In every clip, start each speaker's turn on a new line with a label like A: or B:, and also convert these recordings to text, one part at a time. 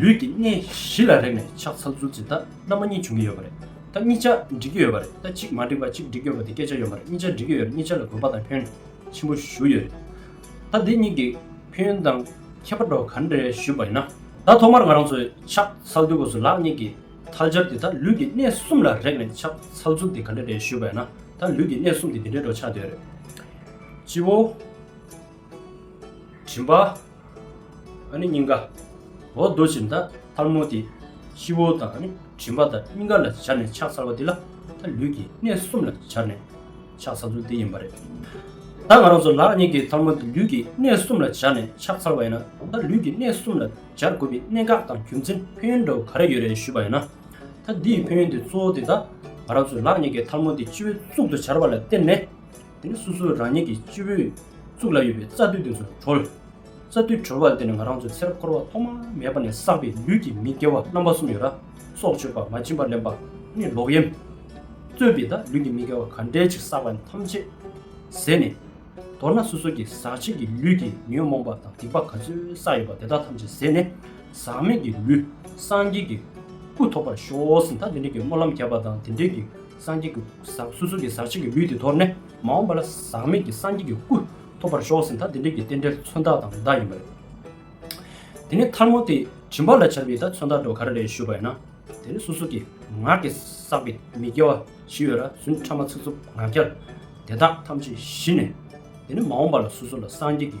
A: ལུས་ཀྱི་གནས་བཞི་ལ་རེག་ནས་ཕྱག་འཚལ་ཚུལ་ཇི་ལྟ་རྣམ་པ་གཉིས་བྱུང་གི་ཡོད་པ་རེད་ད་གཉིས་ཆ་འགྲིག་གི་ཡོད་པ་རེད་ད་གཅིག་མ་འགྲིག་པ་གཅིག་འགྲིག་ཡོད་པ་དེ་སྐད་ཆ་ཡོད་མ་རེད་གཉིས་ཆ་འགྲིག་གི་ཡོད་རེད་གཉིས་ཆ་ལ་གུས་པ་དང་ཁྱོད་ཆེན་པོ་ཞུ་ཡོད་རེད་ད་དེ་གཉིས་ཀྱི་ཁྱོད་ཡོན་དང་ཁྱད་པ་འགྲོ་ག་འདྲེ་ཞུས་པ་ཡིན་ན། ད་ཐོག་མར་ང་རང་ཚོས་ཕྱག་འཚལ་དུས་སྐོར་སུ་ལག་གཉིས་ཀྱི་ཐལ་སྦྱར་དེ་ད་ལུས་ཀྱི་གནས་གསུམ་ལ་རེག་ནས་ཕྱག་འཚལ་ཚུལ་དེ་ག་འདྲེ་རེད་ཞུས་པ་ཡིན་ན་ད་ལུས་ཀྱི་གནས་གསུམ་དེ་འདི་འདྲེ་འགྲོ་ཆགས་དེ་རེད་སྤྱི་བོ། བྱིན་པ། ཨ་ནི་སྙིང་ག། འོག་རྡོ་བཞིན་ད་ཐར་མོ་དེ། ཤི་བོ་དང་ཨ་ནི་བྱིན་པ་དང་སྙིང་ག་ལ་བྱར་ནས་ཕྱག་འཚལ་བ་དེ་ལ་ད་ལུས་ཀྱི་གནས་གསུམ་ལ་བྱར་ནས་ཕྱག་འཚལ་ཚུལ་དེ་ཡིན་པ་རེད། ད་ང་རང་ཚོ་ལག་གཉིས་ཀྱི་ཐར་མོ་དེ་ལུས་ཀྱི་གནས་གསུམ་ལ་བྱར་ནས་ཕྱག་འཚལ་བ་ཡིན་ན་ད་ལུས་ཀྱི་གནས་གསུམ་ལ་བྱར་དགོས་པའི་གནད་འགག་དང་རྒྱུ་མཚན་ཕན་ཡོན་འདྲ་བོ་ག་རེ་ཡོད་རེད་ཞུས་པ་ཡིན་ན། ད་འདིའི་ཕན་ཡོན་དེ་གཙོ་བོ་དེ་ད་ང་རང་ཚོས་ལག་གཉིས་ཀྱི་ཐར་མོ་དེ་སྤྱི་བོའི་གཙུག་ཏུ་བྱར་བ་ལ་བརྟེན་ནས། དེ་ནི་སོ་སོ་རང་ཉིད་ཀྱི་སྤྱི་བོའི་གཙུག་ལ་ཡོད་པའི་རྩ་མདུད་དེ་ཚོར་གྲོལ། རྩ་མདུད་གྲོལ་བ་ལ་བརྟེན་ནས་ང་རང་ཚོའི་ཚེ་རབས་འཁོར་བ་ཐོག་མ་མེད་པ་ནས་བསགས་པའི་ལུས་ཀྱི་མི་དགེ་བ་རྣམ་པ་གསུམ་ཡོད་ལ། སྲོག་གཅོད་པ་མ་བྱིན་པར་ལེན་པ་ནི་ལོག་གཡེམ། རྩོད་པའི་དང་ལུས་ཀྱི་མི་དགེ་བ་ག་འདྲའི་ཆེ་བསགས་པ་ནི་ཐམས་ཅད་ཟད་ནས། མདོར་ན་སོ་སོ་གྱི་ཟག་བཅས་ཀྱི་ལུས་ཀྱི་ཉོན་མོངས་པ་དང་སྡིག་པ་ག་ཚོད་བསགས་ཡོད་པ་དེ་དག་ཐམས་ཅད་ཟད་ནས་ཟག་མེད་ཀྱི་ལུས་སངས་རྒྱས་ཀྱི་སྐུ་ཐོབ་པར་ཤོག་ཟིན་ད་དེ་འདྲའི་གྱི་སྨོན་ལམ་བརྒྱབ་པ་དང་དེ་འདྲའི་གྱི་སངས་རྒྱས་ཀྱི་ཟག་སོ་སོ་ཀྱི་ཟག་བྱེད་ཀྱི་ལུས་དེ་དོར་ནས་མ་འོངས་པ་ལ་ཟག་མེད་ཀྱི་སངས་རྒྱས་ཀྱི་སྐུ་ཐོབ་པར་ཤོག་ཟེར་ད་དེ་འབྲེལ་གྱི་རྟེན་འབྲེལ་མཚོན་རྟགས་དང་བདག་ཡིན་པ་རེད། དེ་ནས་མཐར་མོ་དེ་བྱིན་པ་ལ་བྱར་བས་ད་མཚོན་རྟགས་འགྲོ་ག་རེ་རེད་ཞུས་པ་ཡིན་ན། དེ་ནི་སོ་སོ་ཀྱི་ངག་གིས་བསགས་པའི་མི་དགེ་བ་བཞི་ཡོད་ར་བཟུན་ཕྲ་མ་ཚིག་རྩུབ་ངག་འཁྱལ་དེ་དག་ཐམས་ཅད་ཞི་ནས། དེ་ནི་མ་འོངས་པ་ལ་སོ་སོ་ལ་སངས་རྒྱས་ཀྱི་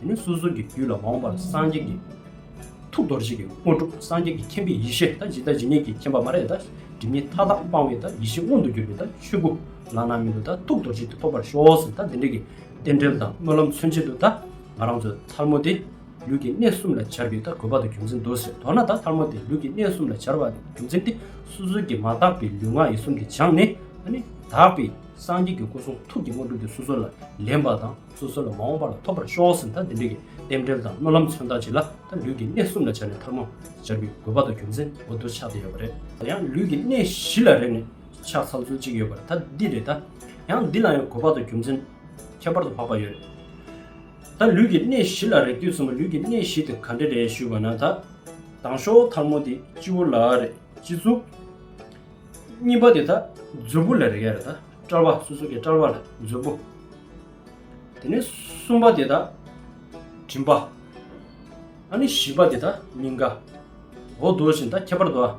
A: དེ་ནས་སོ་སོ་གི་རྒྱུད་ལ་འོངས་པར་སངས་རྒྱས་ཀྱི་ཐུགས་རྡོ་རྗེ་ཀྱི་དབང་སྒྲུབ་སངས་རྒྱས་ཀྱི་མཁྱེན་པའི་ཡེ་ཤེས་དང་ཇི་ལྟ་ཇི་སྙེད་ཀྱི་མཁྱེན་པ་མ་རེག་དང་སྒྲིབ་གཉིས་མཐའ་དག་སྤང་བའི་དང་ཡེ་ཤེས་མངོན་དུ་གྱུར་པའི་དང་ཆོས་སྐུ་བླ་ན་མེད་དུ་དང་ཐུགས་རྡོ་རྗེ་དེ་ཐོབ་པར་ཤོག་ཟེར་དང་དེ་འདྲ་གི་རྟེན་འབྲེལ་དང་སྨོན་ལམ་མཚོན་བྱེད་དུ་དང་ང་རང་ཚོའི་ཐར་མོ་དེ་ལུས་ཀྱི་གནས་གསུམ་ལ་འཆར་བའི་དང་གོ་བ་དང་རྒྱུ་མཚན་དུ་ཟེར་མདོར་ན་དང་ཐར་མོ་དེ་ལུས་ཀྱི་གནས་གསུམ་ལ་འཆར་བ་དང་རྒྱུ་མཚན་དེ་སོ་སོ་གི་མ་དག་པའི་ལུས་ངག་ཡིད་གསུམ་དེ་སྦྱངས་ནས་ནི་དག་པའི་སངས་རྒྱས་ཀྱི་སྐུ་གསུང་ཐུགས་ཀྱི་དབང་སྒྲུབ་དེ་སོ་སོ་ལ་ལེན་པ་དང། སོ་སོ་ལ་མ་འོངས་པ་ལ་ཐོབ་པར་ཤོག་ཟེར་མཐའ་འདི་འདྲ་གི་རྟེན་འབྲེལ་དང་སྨོན་ལམ་མཚོན་རྟགས་བྱས་ལ་ད་ལུས་ཀྱི་གནས་གསུམ་ལ་བྱ་ནས་ཐར་མ་སྦྱར་བའི་དགོས་པ་དང་རྒྱུ་མཚན་འོ་དོ་ཆགས་ཏེ་ཡོད་པ་རེད་ད་ཡང་ལུས་ཀྱི་གནས་བཞི་ལ་རེག་ནས་ཆགས་ཚར་ཚུལ་གཅིག་ཡོད་པར་ད་འདི་རེད་ད་ཡང་འདི་ལ་ཡང་དགོས་པ་དང་རྒྱུ་མཚན་ཁྱད་པར་དུ་འཕགས་པ་ཡོད་རེད་ད་ལུས་ཀྱི་གནས་བཞི་ལ་རེག་དུས་གསུམ་པོ་ལུས་ཀྱི་གནས་བཞི་དེ་ག་འདྲ་རེད་ཞུས་པ་ན་ད་དང་ཤོག་ཐར་མོ་དེ་སྤྱི་བོ་ལ་རེག་སྤྱི་གཙུག། གཉིས་པ་དེ་ད་མཛོད་སྤུ་ལ་རེག་ཡ་རེད་ད་སྐྲ་བ་སོ་སོ་ཀའི་སྐྲ་བ་ལ་མཛོད་སྤུ། དེ་ནས་གསུམ་པ་དེ་དག་མགྲིན་པ། ཨ་ནི་བཞི་པ་དེ་དག་སྙིང་ག། འོ་བསྡོ་བཞིན་ད་ཁྱད་པར་དུ་ཨ།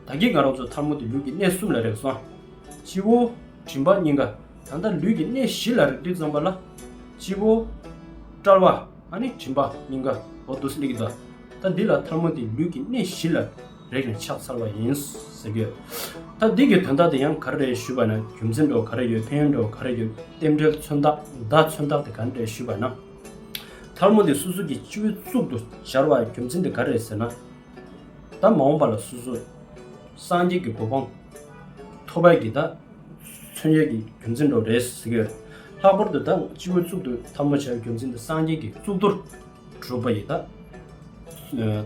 A: ད་ཀྱིས་ང་རང་ཚོ་ཐར་མོ་དེ་ལུས་ཀྱི་གནས་གསུམ་ལ་རེག་སོང། སྤྱི་བོ། མགྲིན་པ་སྙིང་ག། ད་ལྟ་ལུས་ཀྱི་གནས་བཞི་ལ་རེག་དུས་ཙམ་པ་ལ། སྤྱི་བོ། དཔྲལ་བ། ཨ་ནི་མགྲིན་པ་སྙིང་ག། འོ་བསྡོ་སིལ་ལེ་ཀི་དོ་ཨ། ད་འདི་ལ་ཐར་མོ་དེ་ལུས་ཀྱི་གནས་བཞི་ལ། རེག་ནས་ཕྱག་འཚལ་བ་ཡིན། ཟེར་གྱི། ད་འདི་གི་དོན་དག་འདི་ཡང་ག་རེ་རེད་ཞུས་པ་ན་རྒྱུ་མཚན་འགྲོ་ག་རེ་ཡོད་ཕན་ཡོན་འགྲོ་ག་རེ་ཡོད་རྟེན་འབྲེལ་མཚོན་རྟགས་བརྡ་མཚོན་རྟགས་དེ་ག་རེ་རེད་ཞུས་པ་ན། ཐལ་མོ་འདི་སོ་སོ་གྱི་སྤྱི་བོའི་གཙུག་ཏུ་སྦྱར་བ་རྒྱུ་མཚན་དེ་ག་རེ་རེད་ཟེར་ན། ད་མ་འོངས་པ་ལ་སོ་སོ་སངས་རྒྱས་ཀྱི་གོ་འཕང་ཐོབ་པའི་གྱི་ད་མཚོན་བྱེད་ཀྱི་རྒྱུ་མཚན་འགྲོ་རེད་ཟེར་གྱི། ལྷག་པར་དུ་ད་སྤྱི་བོའི་གཙུག་ཏུ་ཐལ་མོ་བྱ་བའི་རྒྱུ་མཚན་དེ་སངས་རྒྱས་ཀྱི་གཙུག་ཏོར་གྲུབ་པ་ཡི་དྭགས་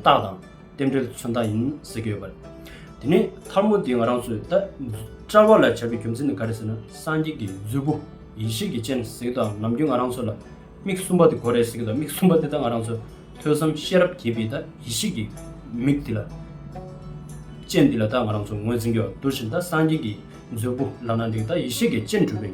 A: དང་རྟེན་འབྲེལ་མཚོན་རྟགས་ཡིན་ཟེར་གྱི་ཡོད་པ་རེད། དེ་ནས་ཐར་མོ་འདི་ང་རང་ཚོས་ད་བཀྲལ་བ་ལ་བྱ་བའི་རྒྱུ་མཚན་ནི་ག་རེ་ཟེར་ན་སངས་རྒྱས་ཀྱི་མཛོད་སྤུ་ཡེ་ཤེས་ཀྱི་སྤྱན་ཟེར་གྱི་དང་ནམ་རྒྱུན་ང་རང་ཚོ་ལ་མིག་གསུམ་པ་དེ་གོ་རེ་ཟེར་གྱི་དང་མིག་གསུམ་པ་དེ་དག་ང་རང་ཚོས་ཐོས་བསམ་ཤེས་རབ་རྒྱས་པའི་དང་ཡེ་ཤེས་ཀྱི་མིག་དེ་ལ་སྤྱན་དེ་ལ་དང་ང་རང་ཚོ་ངོས་འཛིན་གྱི་བ་འདུག་བཞིན་དང་སངས་རྒྱས་ཀྱི་མཛོད་སྤུ་ལག་ན་འདེགས་དང་ཡེ་ཤེས་ཀྱི་སྤྱན་གྲུབ་པའི།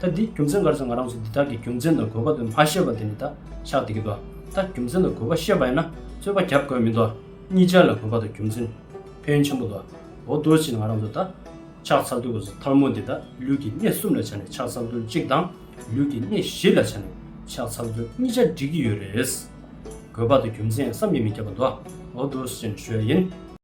A: ད་འདི་རྒྱུ་མཚན་ག་རེ་ཟེར་ང་རང་ཚོ་འདི་དག་གི་རྒྱུ་མཚན་དང་དགོས་པ་དུ་མ་ཤེས་པ་དེ་ནི་ད་ཆགས་བསྡད་ཀྱི་འདུག་ད་རྒྱུ་མཚན་དང་དགོས་པ་ཤེས་པ་ཡིན་ན་རྩོད་པ་རྒྱབ་དགོས་མི་འདུག་གཉིས་ཆར་ལ་དགོས་པ་དང་རྒྱུ་མཚན་ཕན་ཆེན་པོ་འདུག་འོ་དོ་ཕྱིན་ང་རང་ཚོ་ད་ཆགས་ཚར་དུས་གོ་ས་ཐར་མོ་འདི་ད་ལུས་ཀྱི་གནས་གསུམ་ལ་ཆགས་ནས་ཆགས་ཚར་དུས་གཅིག་དང་ལུས་ཀྱི་གནས་བཞི་ལ་ཆགས་ནས་ཆགས་ཚར་དུས་གཉིས་ཆར་འགྲིག་གི་ཡོད་རེད། དགོས་པ་དང་རྒྱུ་མཚན་བསམ་ཡས་མི་ཁྱབ་པ་འདུག་འོ་དོ་ཕྱིན་ཞོལ་ཡིན།